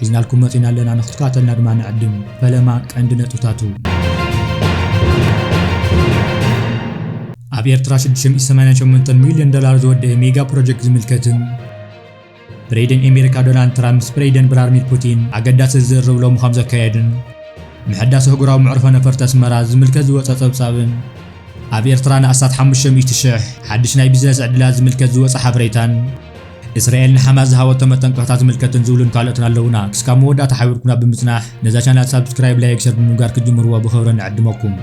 ሒዝናልኩም መጺና ኣለና ንክትከታተሉና ድማ ንዕድም። ፈለማ ቀንዲ ነጥብታቱ። ኣብ ኤርትራ ሽዱሽተ ሚእቲ ሰማንያን ሸሞንተን ሚልዮን ዶላር ዝወደኤ ሜጋ ፕሮጀክት ዝምልከትን፣ ፕሬደን ኤሜሪካ ዶናልድ ትራምፕ ምስ ፕሬደን ብራርሚር ፑቲን ኣገዳሲ ዝርርብ ሎሚ ከም ዘካየዱን፣ ምሕዳስ ኣህጉራዊ መዕርፎ ነፈርቲ ኣስመራ ዝምልከት ዝወጸ ጸብጻብን፣ ኣብ ኤርትራ ንኣስታት ሓሙሽተ ሚእቲ ሽሕ ሓድሽ ናይ ቢዝነስ ዕድላት ዝምልከት ዝወጸ ሓበሬታን፣ እስራኤል ንሓማስ ዝሃበቶ መጠንቀቕታ ዝምልከትን ዝብሉን ካልኦትን ኣለውና። ክስካብ መወዳእታ ሓቢርኩምና ብምጽናሕ ነዛ ቻናል ሳብስክራይብ፣ ላይክ፣ ሸር ብምግባር ክትጅምርዎ ብኽብሪ ንዕድመኩም።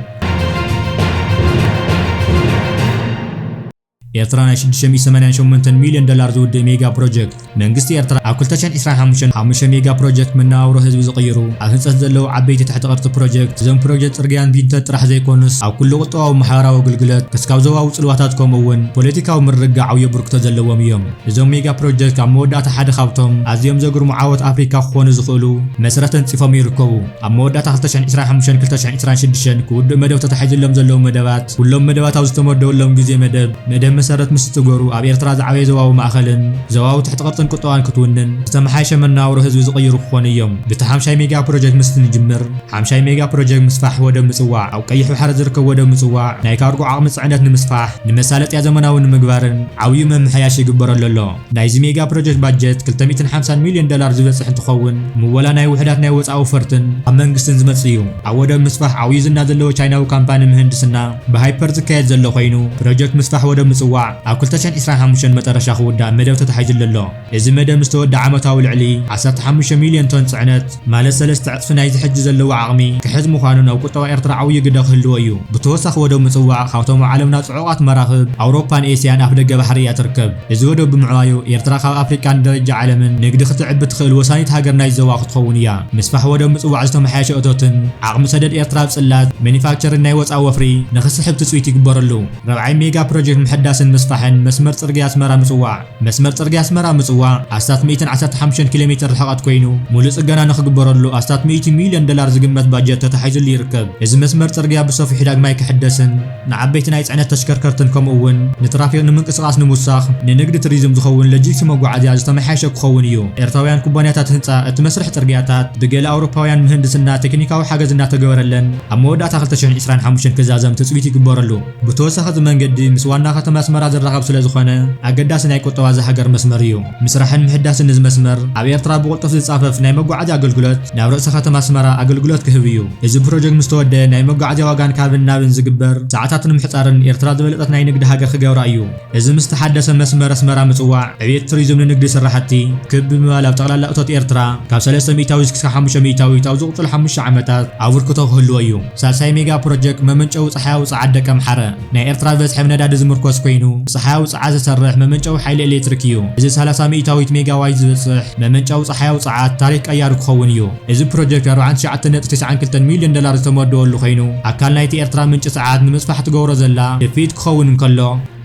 ኤርትራ ናይ 688 ሚልዮን ዶላር ዝውድእ ሜጋ ፕሮጀክት መንግስቲ ኤርትራ ኣብ 2025 5 ሜጋ ፕሮጀክት መነባብሮ ህዝቢ ዝቕይሩ ኣብ ህንፀት ዘለዉ ዓበይቲ ትሕቲ ቅርፂ ፕሮጀክት እዞም ፕሮጀክት ፅርግያን ቢንተት ጥራሕ ዘይኮኑስ ኣብ ኩሉ ቁጠባዊ ማሕበራዊ ግልግለት ክስካብ ዞባዊ ፅልዋታት ከምኡ እውን ፖለቲካዊ ምርግጋዕ ዓብዩ ኣበርክቶ ዘለዎም እዮም። እዞም ሜጋ ፕሮጀክት ኣብ መወዳእታ ሓደ ካብቶም ኣዝዮም ዘግርሙ ዓወት ኣፍሪካ ክኾኑ ዝኽእሉ መሰረት ተንፂፎም ይርከቡ። ኣብ መወዳእታ ክልተ ሽሕን ዕስራን ሓሙሽተን ክልተ ሽሕን ዕስራን ሽዱሽተን ክውድኡ መደብ ተታሒዙሎም ዘለዉ መደባት ኩሎም መደባት ኣብ ዝተመደቡሎም ግዜ መደብ መደብ መሰረት ምስ ዝትግበሩ ኣብ ኤርትራ ዝዓበየ ዞባዊ ማእኸልን ዞባዊ ትሕቲ ቅርፅን ቁጠባን ክትውንን ዝተመሓየሸ መነባብሮ ህዝቢ ዝቕይሩ ክኾኑ እዮም። ብቲ ሓምሻይ ሜጋ ፕሮጀክት ምስ ንጅምር፣ ሓምሻይ ሜጋ ፕሮጀክት ምስፋሕ ወደብ ምጽዋዕ፣ ኣብ ቀይሕ ባሕሪ ዝርከብ ወደብ ምጽዋዕ ናይ ካርጎ ዓቕሚ ጽዕነት ንምስፋሕ፣ ንመሳለጥያ ዘመናዊ ንምግባርን ዓብዩ ምምሕያሽ ይግበረሉ ኣሎ። ናይዚ ሜጋ ፕሮጀክት ባጀት ክልተ ሚእትን ሓምሳን ሚልዮን ዶላር ዝበጽሕ እንትኸውን፣ ምወላ ናይ ውሑዳት ናይ ወጻኢ ወፈርትን ኣብ መንግስትን ዝመጽእ እዩ። ኣብ ወደብ ምስፋሕ ዓብዩ ዝና ዘለዎ ቻይናዊ ካምፓኒ ምህንድስና ብሃይፐር ዝካየድ ዘሎ ኮይኑ፣ ፕሮጀክት ምስፋሕ ወደብ ምጽዋዕ ኣብ ክልተ ሽሕን ዒስራን ሓሙሽተን መጠረሻ ክውዳእ መደብ ተታሒዙሉ ኣሎ። እዚ መደብ ምስ ተወድኣ ዓመታዊ ልዕሊ ዓሰርተ ሓሙሽተ ሚልዮን ቶን ጽዕነት፣ ማለት ሰለስተ ዕጽፊ ናይዚ ሕጂ ዘለዎ ዓቕሚ፣ ክሕዝ ምዃኑን ኣብ ቁጠባ ኤርትራ ዓውዪ ግደ ክህልዎ እዩ። ብተወሳኺ ወደብ ምጽዋዕ ካብቶም ኣብ ዓለምና ጽዑቓት መራኽብ ኣውሮፓን ኤስያን ኣፍደገ ባሕሪ እያ ትርከብ። እዚ ወደብ ብምዕባዩ ኤርትራ ካብ ኣፍሪቃን ብደረጃ ዓለምን ንግዲ ክተዕቢ እትኽእል ወሳኒት ሃገር ናይዚ ዞባ ክትኸውን እያ። ምስፋሕ ወደብ ምጽዋዕ ዝተመሓየሸ እቶትን ዓቕሚ ሰደድ ኤርትራ ኣብ ጽላት፣ መኒፋክቸርን ናይ ወጻኢ ወፍሪ ንክስሕብ ትጽቢት ይግበረሉ። ራብዓይ ሜጋ ፕሮጀክት ምሕዳስን ምስፋሕን መስመር ጽርግያ ኣስመራ-ምጽዋዕ። መስመር ጽርግያ ኣስመራ ምጽዋዕ ኣስታት ሚእትን ዓሰርተ ሓሙሽተን ኪሎ ሜተር ርሕቐት ኮይኑ ሙሉእ ጽገና ንኽግበረሉ ኣስታት ሚእቲ ሚልዮን ደላር ዝግመት ባጀት ተታሒዙሉ ይርከብ። እዚ መስመር ጽርግያ ብሰፊሑ ዳግማይ ክሕደስን ንዓበይቲ ናይ ጽዕነት ተሽከርከርትን ከምኡ እውን ንትራፊክ ንምንቅስቓስ ንምውሳኽ ንንግዲ ትሪዝም ዝኸውን ለጂክሲ መጓዓዝያ ዝተመሓየሸ ክኸውን እዩ። ኤርትራውያን ኩባንያታት ህንጻ እቲ መስርሕ ጽርግያታት ብገለ ኣውሮፓውያን ምህንድስና ቴክኒካዊ ሓገዝ እናተገበረለን ኣብ መወዳእታ ክልተ ሽሕን ዕስራን ሓሙሽተን ክዛዘም ትጽቢት ይግበረሉ። ብተወሳኺ እዚ መንገዲ ምስ ዋና ከተማ ኣስመራ ዝራኸብ ስለዝኾነ ኣገዳሲ ናይ ቁጠባ እዛ ሃገር መስመር እዩ። ምስራሕን ምሕዳስን እዚ መስመር ኣብ ኤርትራ ብቕልጡፍ ዝጻፈፍ ናይ መጓዓዝያ ኣገልግሎት ናብ ርእሰ ከተማ ኣስመራ ኣገልግሎት ክህብ እዩ። እዚ ፕሮጀክት ምስ ተወደኣ ናይ መጓዓዝያ ዋጋን ካብን ናብን ዝግበር ሰዓታት ንምሕጻርን ኤርትራ ዝበለጸት ናይ ንግዲ ሃገር ክገብራ እዩ። እዚ ምስ ተሓደሰ መስመር ኣስመራ ምጽዋዕ ዕብየት ቱሪዝም ንንግዲ ስራሕቲ ክብ ብምባል ኣብ ጠቕላላ እቶት ኤርትራ ካብ ሰለስተ ሚእታዊት ክሳብ ሓሙሽተ ሚእታዊት ኣብ ዝቕጽሉ ሓሙሽተ ዓመታት ኣቡርክቶ ክህልዎ እዩ። ሳልሳይ ሜጋ ፕሮጀክ መመንጨዊ ጸሓያዊ ጸዓት ደቀምሓረ፣ ናይ ኤርትራ ብበዝሒ ብ ነዳዲ ዝምርኮስ ኮይኑ፣ ብጸሓያዊ ጸዓት ዝሰርሕ መመንጨዊ ሓይሊ ኤሌትሪክ እዩ። እዚ ሰላሳ ሚኢታዊት ሜጋዋይት ዝበጽሕ መመንጨዊ ጸሓያዊ ጸዓት ታሪኽ ቀያሪ ክኸውን እዩ። እዚ ፕሮጀክት ኣርባዓን ትሽዓተ ነጥቢ ትስዓን ክልተን ሚልዮን ዶላር ዝተመደወሉ ኮይኑ፣ ኣካል ናይቲ ኤርትራ ምንጪ ጸዓት ንምስፋሕ ትገብሮ ዘላ ድፍኢት ክኸውን እንከሎ፣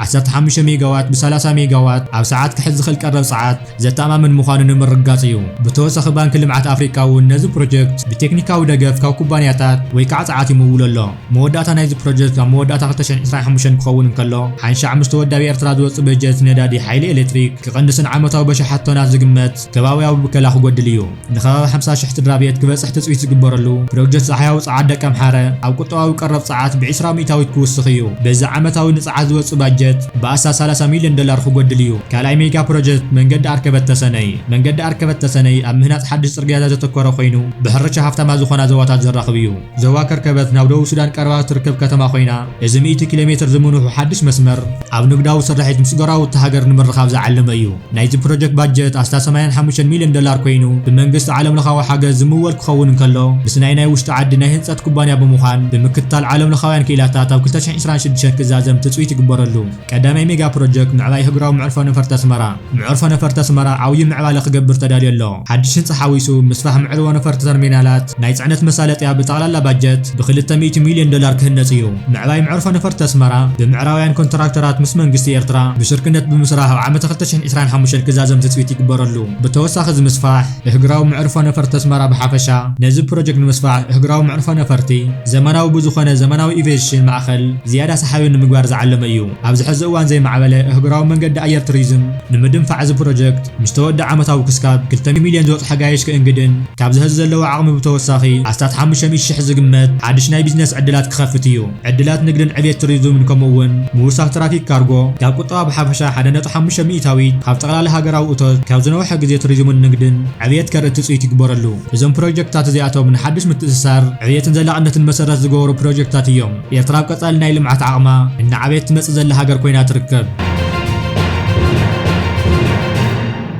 ዓሰርተ ሓሙሽተ ሜጋዋት ብ ሰላሳ ሜጋዋት ኣብ ሰዓት ክሕዝ ዝኽእል ቀረብ ጸዓት፣ ዘተኣማምን ምዃኑ ንምርግጋጽ እዩ። ብተወሳኺ ባንኪ ልምዓት ኣፍሪቃ እውን ነዚ ፕሮጀክት ብቴክኒካዊ ደገፍ ካብ ኩባንያታት ወይ ከዓ ጸዓት ይምውሎ ኣሎ። መወዳእታ ናይዚ ፕሮጀክት ኣብ መወዳእታ ክልተ ሽሕን ዕስራን ሓሙሽተን ክኸውን እንከሎ ሓንሻዕ ምስ ተወዳቢ ኤርትራ ዝወጽእ በጀት ነዳዲ ሓይሊ ኤሌክትሪክ ክቕንስን ዓመታዊ በሽሓት ቶናት ዝግመት ከባብያዊ ብከላ ክጎድል እዩ። ንከባቢ ሓምሳ ሽሕ ስድራቤት ክበጽሕ ትጽቢት ዝግበረሉ ፕሮጀት ጻሕያዊ ጸዓት ደቀምሓረ ኣብ ቁጠባዊ ቀረብ ጸዓት ብዒስራ ሚእታዊት ክውስኽ እዩ። በዚ ዓመታዊ ንጸዓት ዝወጽእ ባጀት ብኣስታት ሰላሳ ሚልዮን ዶላር ክጎድል እዩ። ካልኣይ ሜጋ ፕሮጀት መንገዲ ኣርከበት ተሰነይ። መንገዲ ኣርከበት ተሰነይ ኣብ ምህናጽ ሓድሽ ጽርግያታት ዘተኮረ ኮይኑ ብሕርሻ ሃፍታማት ዝኾና ዞባታት ዘራኽብ እዩ። ዞባ ከርከበት ናብ ደቡብ ሱዳን ቀረባ እትርከብ ከተማ ኮይና፣ እዚ ሚእቲ ኪሎ ሜትር ዝምንውሑ ሓድሽ መስመር፣ ኣብ ንግዳዊ ስርሒት ምስ ጎረባብቲ ሃገር ንምርኻብ ዝዓለመ እዩ። ናይዚ ፕሮጀክት ባጀት ኣስታት ሰማንያን ሓሙሽተን ሚልዮን ዶላር ኮይኑ፣ ብመንግስቲ ዓለምለኻዊ ሓገዝ ዝምወል ክኸውን እንከሎ፣ ምስ ናይ ናይ ውሽጢ ዓዲ ናይ ህንጸት ኩባንያ ብምዃን ብምክትታል ዓለምለኻውያን ክኢላታት ኣብ ክልተ ሽሕን ዕስራን ሽዱሽተን ክዛዘም ትጽቢት ይግበረሉ። ቀዳማይ ሜጋ ፕሮጀክት ምዕባይ ኣህጉራዊ መዕርፎ ነፈርቲ ኣስመራ። መዕርፎ ነፈርቲ ኣስመራ ዓብዩ ምዕባለ ክገብር ተዳልዩ ኣሎ። ሓድሽ ህንፃ ሓዊሱ ምስፋሕ መዕርቦ ነፈርቲ ተርሚናላት፣ ናይ ፅዕነት መሳለጥያ ብጠቕላላ ባጀት ብ ክልተ ሚእቲ ሚልዮን ዶላር ክህነፅ እዩ። ምዕባይ መዕርፎ ነፈርቲ ኣስመራ ብምዕራባውያን ኮንትራክተራት ምስ መንግስቲ ኤርትራ ብሽርክነት ብምስራሕ ኣብ ዓመተ ክልተ ሽሕን ዕስራን ሓሙሽተን ክዛዘም ትፅቢት ይግበረሉ። ብተወሳኺ እዚ ምስፋሕ እህግራዊ መዕርፎ ነፈርቲ ኣስመራ ብሓፈሻ ነዚ ፕሮጀክት ንምስፋሕ እህግራዊ መዕርፎ ነፈርቲ ዘመናዊ ብዝኾነ ዘመናዊ ኢቬሽን ማእኸል ዝያዳ ሰሓቢ ንምግባር ዝዓለመ እዩ። ኣብዚ ሕዚ እዋን ዘይማዕበለ ኣህጉራዊ መንገዲ ኣየር ቱሪዝም ንምድንፋዕ እዚ ፕሮጀክት ምስ ተወድኣ ዓመታዊ ክስካብ ክልተ ሚሊዮን ዝበጽሑ ጋይሽ ከእንግድን ካብዚ ሕዚ ዘለዎ ዓቕሚ ብተወሳኺ ኣስታት ሓሙሽተ ሚእቲ ሽሕ ዝግመት ሓድሽ ናይ ቢዝነስ ዕድላት ክኸፍት እዩ። ዕድላት ንግድን ዕብየት ቱሪዝምን ከምኡ እውን ምውሳኽ ትራፊክ ካርጎ ካብ ቁጠባ ብሓፈሻ ሓደ ነጥቢ ሓሙሽተ ሚኢታዊት ካብ ጠቕላላ ሃገራዊ እቶት ካብ ዝነውሐ ግዜ ቱሪዝምን ንግድን ዕብየት ከርኢ ትጽቢት ይግበረሉ። እዞም ፕሮጀክትታት እዚኣቶም ንሓድሽ ምትእስሳር፣ ዕብየትን ዘላቕነትን መሰረት ዝገበሩ ፕሮጀክትታት እዮም። ኤርትራ ኣብ ቀጻሊ ናይ ልምዓት ዓቕማ እናዓበየት ትመጽእ ዘላ ሃገር ኮይና ትርከብ።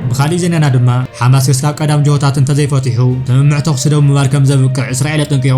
ብኻሊእ ዜናና ድማ፣ ሓማስ ክስካብ ቀዳም ጅሆታት እንተዘይፈቲሑ፣ ስምምዕ ተኹሲ ደው ምባል ከምዘብቅዕ እስራኤል ኣጠንቂቑ።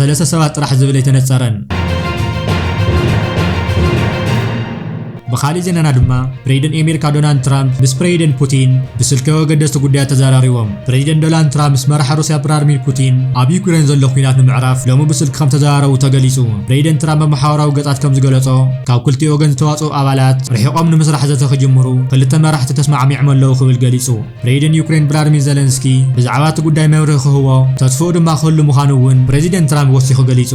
ሰለስተ ሰባት ጥራሕ ዝብል ኣይተነጸረን። ብኻሊእ ዜናና ድማ ፕሬዚደንት ኤሜሪካ ዶናልድ ትራምፕ ምስ ፕሬዚደንት ፑቲን ብስልኪ ኣገደስቲ ጉዳያት ተዘራሪቦም። ፕሬዚደንት ዶናልድ ትራምፕ ምስ መራሒ ሩስያ ቭላድሚር ፑቲን ኣብ ዩክሬን ዘሎ ኲናት ንምዕራፍ ሎሚ ብስልኪ ከም ተዘራረቡ ተገሊጹ። ፕሬዚደንት ትራምፕ ኣብ ማሕበራዊ ገጻት ከም ዝገለጾ ካብ ክልቲኡ ወገን ዝተዋጽኡ ኣባላት ርሒቖም ንምስራሕ ዘተ ክጅምሩ ክልተ መራሕቲ ተስማዕሚዕም ኣለዉ ክብል ገሊጹ። ፕሬዚደንት ዩክሬን ቭላድሚር ዘለንስኪ ብዛዕባ እቲ ጉዳይ መብርሂ ክህቦ ተስፍኡ ድማ ክህሉ ምዃኑ እውን ፕሬዚደንት ትራምፕ ወሲኹ ገሊጹ።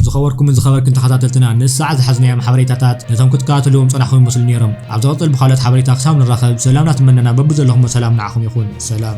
ዝኸበርኩምን ዝኸበርክን ተኸታተልትና ነዚ ሰዓት ዝሓዝናዮም ሓበሬታታት ነቶም ክትከታተልዎም ጸናሕኩም ይመስሉ ነይሮም ኣብ ዝቕጽል ብካልኦት ሓበሬታ ክሳብ ንራኸብ ሰላምና ትመነና በቢ ዘለኹሞ ሰላም ንዓኹም ይኹን ሰላም